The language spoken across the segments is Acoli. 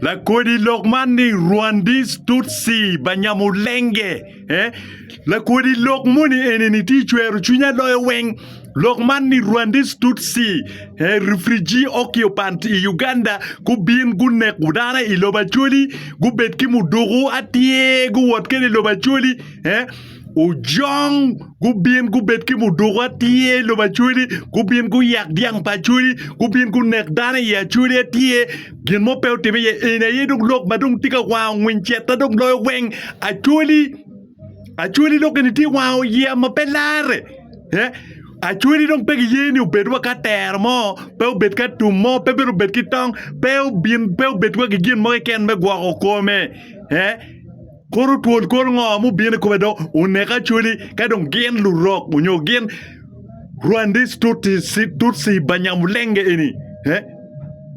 Lakodi lok man ni Rwandis Tutsi Banyamulenge. Eh? Lakodi lok moni eni ni ti cwero cwinya loyo weng. Lok man ni Rwandis Tutsi eh, refugee occupant i Uganda gubin gunek dano i lobo Acholi gubed ki muduku atye guwot kede i lobo Acholi eh? Ojong gubin gubed ki muduku atye i lobo acweli, gubin guyak dyang pa acweli, gubin gunek dano i acweli atye, gin mo pe otimme iye, eni aye dong lok ma dong tye ka wango ngwiny ceta dong loyo weng, acweli, acweli dong eni tye wango yeya ma pe larre, eh, acweli dong pe giye ni obed wa ka tero mo, pe obed ka tum mo, pe bene obed ki tong, pe obin, pe obed wa ki gin mo keken me gwoko kome, eh, Kuru twol kor ngo mubino i kome do, onek acoli, ka dong gin lurok onyo gin Rwandis Tutsi, Tutsi Banyamulenge eni, eh,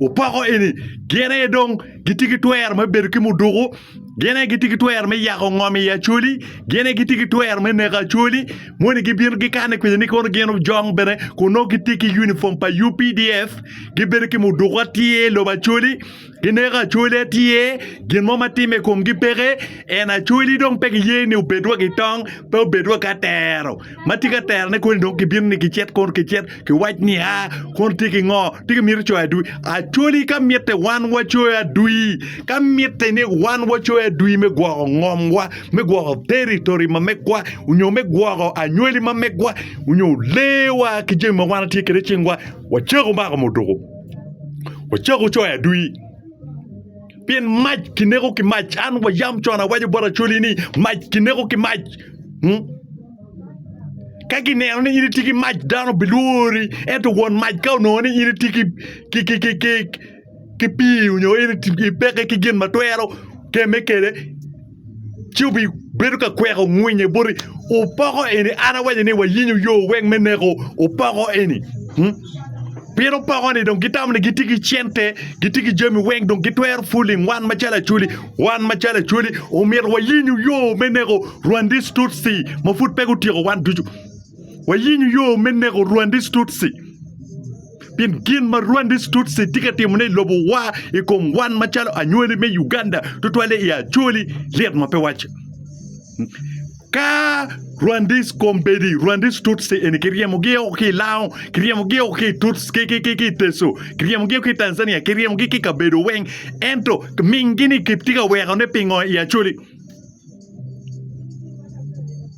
opoko eni, gin aye dong gitye ki twero me bedo ki muduku, gin aye gitye ki twero me yako ngom i acoli, gin aye gitye ki twero me neko acoli, moni gibino gikane kwedja ni kono gin ojong bene kun nongo gitye ki unifom pa UPDF, gibedo ki muduku atir i lobo acoli, Gineko acolya tye, gin mo ma timme i komgi peke, en acolli dong pe giye ni obed wa ki tong, pe obed wa ki atero. Ma tye ki aterone koni dong gibino ni gicit kono gicit giwac ni a, kono tye ki ngo? Tye ki mito coyo adwi? Acolli ka mitte wan wacoyo adwi, ka mitte ni wan wacoyo adwi me gwoko ngomwa, me gwoko territory ma megwa, onyo me gwoko anywali ma megwa, onyo lewa ki jami ma wan watye kwede i cingwa, wacako mako muduku. Wacak wucoyo adwi. Pien mac kineko ki mac. An wayam con awaco bot Acholi ni mac kineko ki mac. Hmm? Ka gineno ni in itye ki mac dano bilwori ento won mac ka onongo ni in itye ki ki ki ki ki ki pii onyo in iti- ipeke ki gin ma twero keme kede ci obibedo ka kweko ngwinye boti opoko eni an awaco ni wayinyo yo weng me neko opoko eni hmm? pien opoko ni dong gitamo ni gitye ki cente gitye ki jami weng dong gitwero fuling wan macalo acwali wan macalo acwali omyero wayinyo yo me neko rwandis tutsi ma pud pe gutyeko wan ducu wayinyo yo me neko rwandis tutsi Pien gin ma Rwandese Tutsi tye ka timone i lobowa i kom wan macalo anywali me Uganda, tutwalle i Acholi, lit ma pe wacce. Ka Rwandese Kombedi, Rwandese Tutsi eni kiryemogi oko ki i Lao, kiryemogi oko ki i Tuts, ki, ki, ki, ki i Teso, kiryemogi oko ki i Tanzania, kiryemogi ki i kabedo weng, ento minggi-ni kitye ka wekone pingo i Acholi?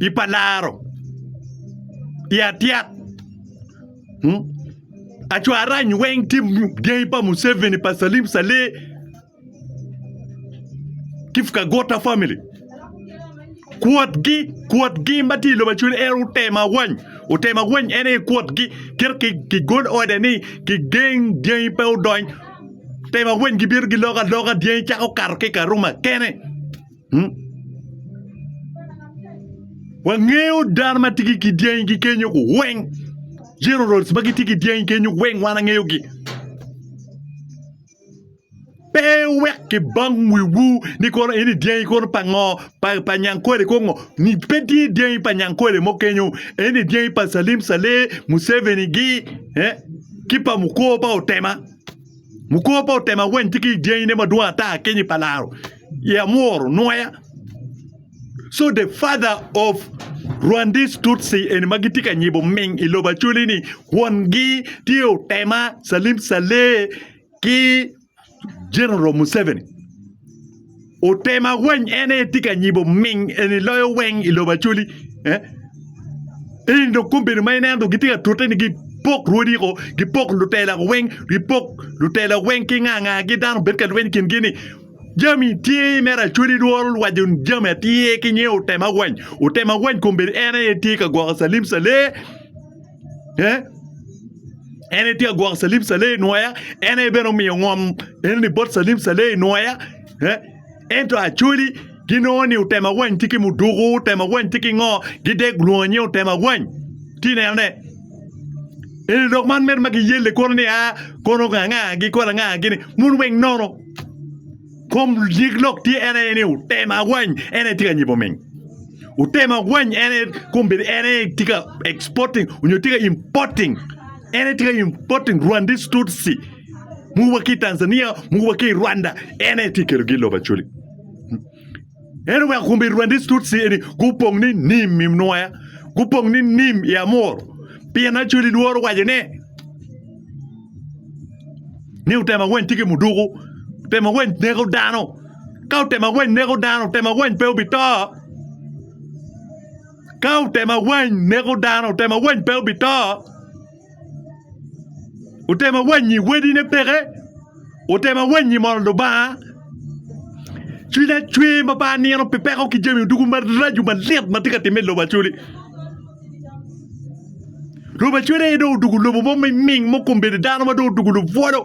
i pa laro i atyet acwarany weng tye gangi pa Museveni pa Salim Saleh ki Kagwota family kwotgi kwotgi ma tye i lobo Acholi en otemo awany otemo awany en aye kwotgi kit ki gol order ni gigeng dyangi pe odony otemo awany gibino giloko aloka dyangi cako kato ki i Karuma kene. Wangeyo dano ma tye ki dyangi kenyo weng generals ma gitye ki dyangi kenyo weng wan wangeyogi. Pe wek kibang wiwu ni kono eni dyangi kono pa ngo pa Nyankole kong ngo pe tye dyangi pa Nyankole mo kenyo eni dyangi pa Salim Saleh, Museveni gi ki pa Mukor pa Otema, Mukor pa Otema weng tye ki dyangine madwong ata kenyo i pa laro. ye amworo nwoya so the father of Rwandese Tutsi eni ma gitye ka nyibo ming i lobo Acholi ni kwongi tye otema Salim Saleh ki General Museveni otema weny en aye tye ka nyibo ming eni loyo weng i lobo Acholi eh? eni dong kombeddi ma ineno dong gitye ka tute ni gipok rwodi ko gipok lutela ko weng gipok lutela weng ki nga ngagi dano bed ka lweny i kingi ni Jami tye me racodi lworo lwajo jami atir ki nge otema wany otema wany kombedi en aye tye ka gwoko salim saleh eh en aye tye ka gwoko salim saleh inwoya en aye bene omiyo ngom enoni bot salim saleh inwoya eh ento acoli ginongo ni otema wany tye ki muduku otema wany tye ki ngo gidek lwongo nge otema wany ti neno ne eni lok man mere ma giyelle kono ni a kono nga nga gi kono nga gini mun weng nono Kom nyig lok tye en aye ni otema awany en aye tye ka nyibo ming. Otema awany en aye kom bedo en aye tye ka exporting onyo tye ka importing. En aye tye ka importing Rwandese Tutsi mogo wa ki i Tanzania mogo wa ki i Rwanda en aye tye ka kelogi i lobo Acholi. En oweko kombi Rwandese Tutsi eni gupong ni nim i Nwoya, gupong ni nim i Amur, pien Acholi lworo waco ni, ni otemo aweny tye ki muduku, otemo aweny neko dano. Ka otemo aweny neko dano, otemo aweny pe obito. Ka otemo aweny neko dano, otemo aweny pe obito. otemo awanyi wadine peke otemo awanyi mono Lubanga cwiny acwer ma pe anino pi peko ki jami ducu maraco malyet ma tye ka timme i lobo Acholi lobo Acholi aye dong odoko lobo mo miming ma kombedo dano ma dong odoko lubwolo.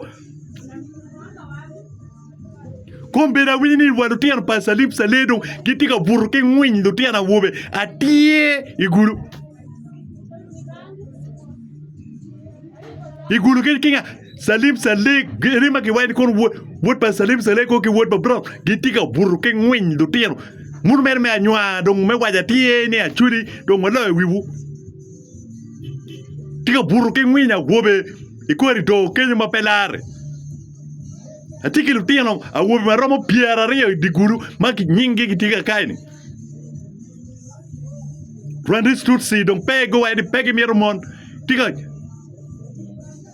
Kun bene awinyo ni wa lutino pa Salib Saledo gitye ka buto ki ngwiny lutino awobe atir i gulu. I gulu ki kinga Salib Salek ene ma kiwaco ni kono wod wod pa Salib Salek ko ki wod pa Brown gitye ka buto ki ngwiny lutino. Muno mere me anywa dong me waco atir ni acwali dong waloyo wiwu. tye ka buto ki ngwiny awobe i korido kenyo ma pe lare atye ki lutino awobe ma romo pyeraryo i dye gudo ma nyingi gitye kakayi-ni rwandis tutsi dong pe gimito mon tye ka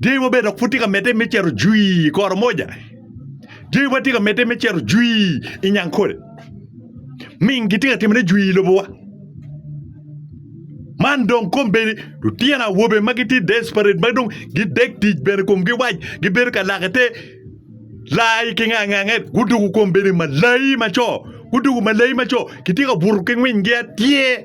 Dyangi mo bene dok pud tye ka medde me cito jwi i koro moja. Dyangi mo tye ka medde me cito jwi i Nyankole. Ming gitye ka timone jwi i lobowa. Man dong kombeddi lutino awobe ma gitye desperate ma dong gidek tic bene komgi wac gibedo ka lake te lai ki ngangange gudoko kombeddi malayi maco gudoko malayi maco kitye ka buto ki ngwingi atir.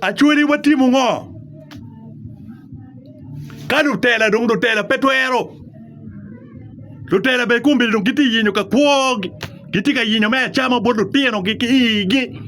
Acwali watimo ngo? Ka lutela dong lutela pe twero. Lutela bene kombeddi dong gitye yinyo ka kwo gitye ka yinyo me acama bot lutino gi ki igi.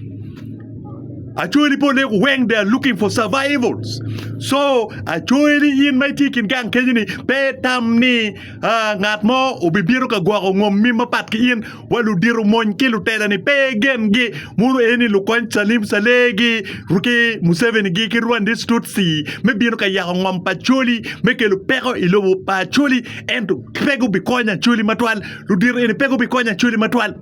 Acwali pole ku weng they are looking for survivals. So acwali in ma itye kin gang kenyo ni pe itam ni ngat mo obibino ka gwoko ngom mim mapat ki in. wa ludito mony ki lutela-ni pe gengi muno aye ni lukony Salim Saleh-gi ki Museveni-gi ki Rwandese Tutsi me bino ka yako ngom pa Acholi me kelo peko i lobo pa Acholi ento pe gubikonyo Acholi matwal ludito eni pe gubikonyo Acholi matwal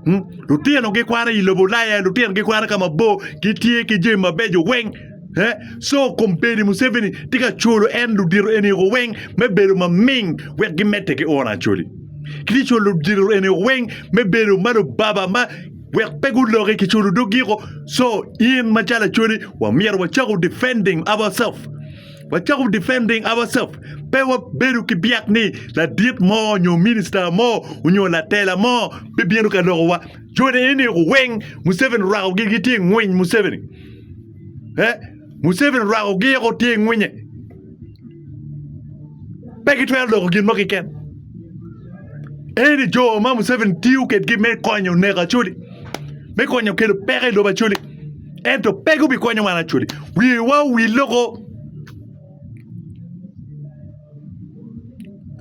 hmm? lutino gikwano i lobo Ulaya lutino gikwano ka mabor gitye ki jami mabeco weng Eh? so kombeni Museveni tye ka colo en ludito eni weng me bedo maming wek gimedde ki oro Acholi Kiti colo dilo ene weng me bedo ma lubaba ma wek pe guloki ki colo dog giko. So in ma calo acoli wa myero wa cako defending ourself. Wa cako defending ourself. Pe wa bedo ki byak ni ladit mo nyo minister mo nyo latela mo bi bino ka loko wa. Joni ene weng Museveni rwako gi gi tye ngwiny Museveni. Eh, Museveni rwako giko tye ngwinye. pe gitwero doko gin mo kiken eni jo ma Museveni tiyo kedgi me konyo neko Acholi me konyo kelo peko i lobo Acholi ento pe gubikonyo wan Acholi wiwa owil loko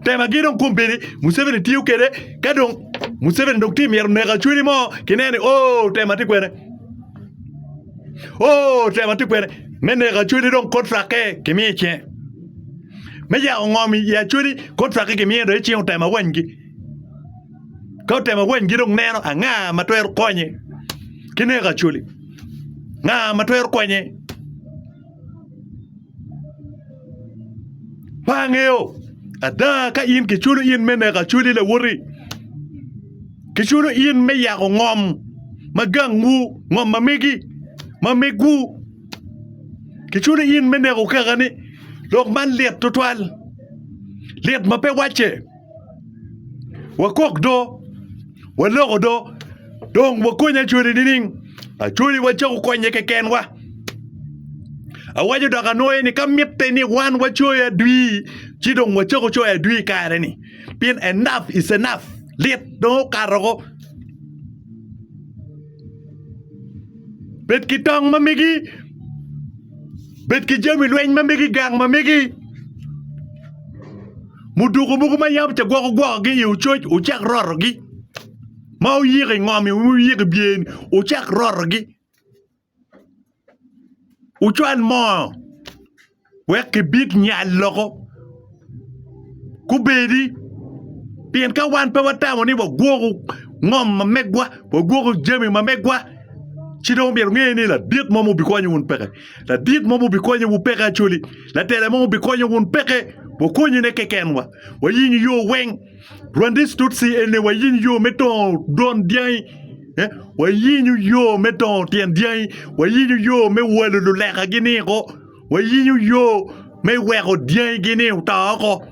temagi dong kombedi Museveni tiyo kede ka dong Museveni dong tye myero neko Acholi mo kineno ni o tema tye kwene Oh, tema tye kwede me neko acweli dong kontrakke kimiyo icinge. Me yako ngom i acweli kontrakke kimiyo dong icinge otemo awanygi. Ka otemo awanygi dong neno anga ma twero konye ki neko acweli. Nga ma twero konye pe angeyo ada ka in kiculo in me neko acoli lawoti kiculo in me yako ngom ma gangwu ngom ma megi ma megwu kiculo in me neko kakane lok man lit tutwal lit ma pe wacce. Wakok do, waloko do, dong wakony Acholi nining? Acholi wacako konye kekenwa. Awaco dok anwoye ni ka mitte ni wan wacoyo adwi ci dong wacako coyo adwi i kare-ni pien enough is enough, lit dong okato oko. Bed ki tong ma megi, bed ki jami lweny ma megi, gang ma megi, muduku mogo ma yam kigwoko gwokogi iye ococ wucak rotogi ma wuyiko ingom-mi wuyiko i byer-ni wucak rotogi. Wucwal moo wek kibit nyal loko kubedi, pien ka wan pe watamo ni wagwoko ngom ma megwa, wagwoko jami ma megwa, ci dong myero wunge ni ladit mo ma wubikonyo wun peke, ladit mo ma wubikonyo wun peke Acholi, latela mo ma wubikonyo wun peke, wakonyine kekenwa, wayingo yo weng. Rwandese Tutsi ene wayiny yo me dongo don dyangi eh, wayinyo yo me dongo tyen dyangi wayinyo yo me walo lulekagi ni oko wayinyo yo me weko dyangigi ni oto oko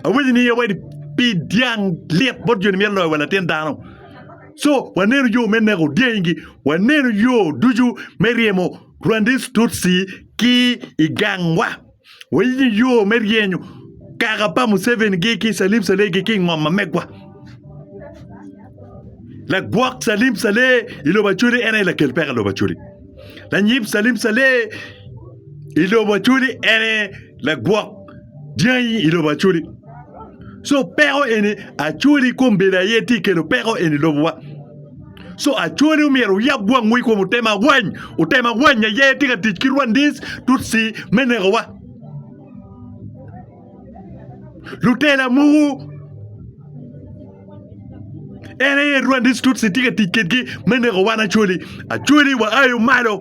awinyo ni wadi pi dyang lit bot joni myero loyo wa latin dano so waneno yo me neko dyangi waneno yo ducu me ryemo Rwandese Tutsi ki i gangwa Wayiyo yo me ryenyo kaka pa Museveni gi ki Salim Saleh gi ki ngom ma megwa. Lagwok Salim Saleh i lobo Acholi en aye lakel peko i lobo Acholi. Lanyib Salim Saleh i lobo Acholi en aye lagwok dyangi i lobo Acholi. So peko eni Acholi kombedo aye tye kelo peko eni lobowa. Co acone omyero oyab wangwu i kom otema awany. Otema awany aye tye ka tic ki Rwandese, Tutsi me nekowa. Lutela mogo en aye Rwandese Tutsi tye ka tic kedgi me neko wan Acholi. Acholi waayo malo.